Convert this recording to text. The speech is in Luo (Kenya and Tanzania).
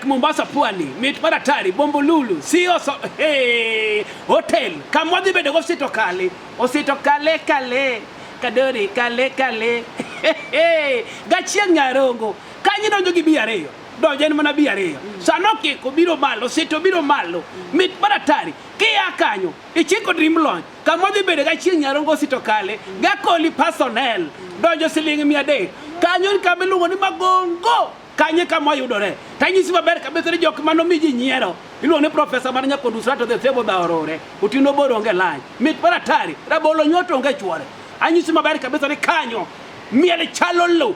Mombasa pwani mit mar atari bombo lulu si oso hey, hotel kamwa dhi bedo gosito kale osito kale kale kadori kale kale hey, hey, gachieng' nyarongo kanyi donjo gi bi ariyo donjo en manabii ariyo sa nokiko biro malo sito biro malo mit mar atari kia kanyo ichiko dream launch kama odhi bedo ga chieng' nyarongo sito kale gakoli personnel donjo siling' mia adek kanyo ni kama iluongo ni magongo kanye kama oyudore tanyisi maber kabisa ni jok mano mi ji nyiero iluongo ni profesa mar nyakondo usrato the sebo dhaorore utino bor onge lany mit mar atari rabolo nyuoto onge chwore anyisi maber kabisa ni kanyo miel chalo lo